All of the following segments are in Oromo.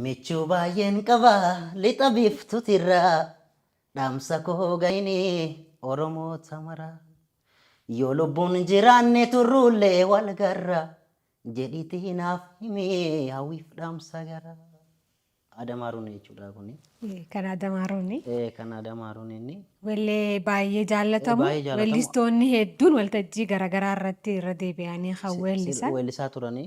Michuu baay'een qaba lixa biiftutirraa dhaamsa koo gahini oromoota maraa yoo lubbuun jiraanne turruullee wal garra jedhiitii naaf himi hawwiif dhaamsa gara Adamaaruun jechuudha kuni. Kan Adamaaruuni. Eh, Kan Adamaaruun inni. Wellee baay'ee Eh, jaallatamu. Baay'ee jaallatamu. Wellistoonni hedduun waltajjii garaagaraa irratti irra deebi'anii kan Si- si- weellisan. Weellisaa turanii.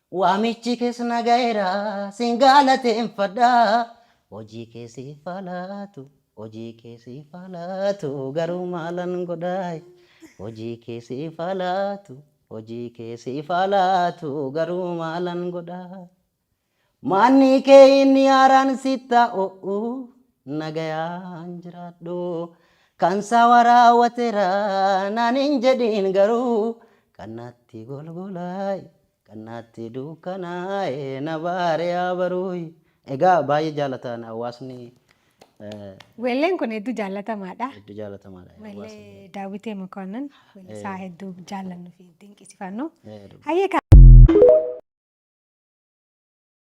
Waamichi kees na ga'eera sin galateeffadha Hojii kee siif haa laatu Hojii kee siif haa laatu Garuu maalan godhaayi Hojii kee siif haa laatu Hojii kee siif haa laatu Garuu maalan godhaayi Manni kee inni haaraan sitti haa ho'u Nagayaan jiraadhu Kan saawaa raawwateera naan hin jedhiin garuu Kan natti golgolaayi Kan natti dukkanaa'e na baare yaa baruuyi. Egaa baay'ee jaalataan hawaasni. Weelleen kun hedduu jaallatamaadha. Hedduu jaallatamaadha. Weellee Daawwitee Mokonnon weellisaa hedduu jaallannu fi dinqisifannu. Hayyee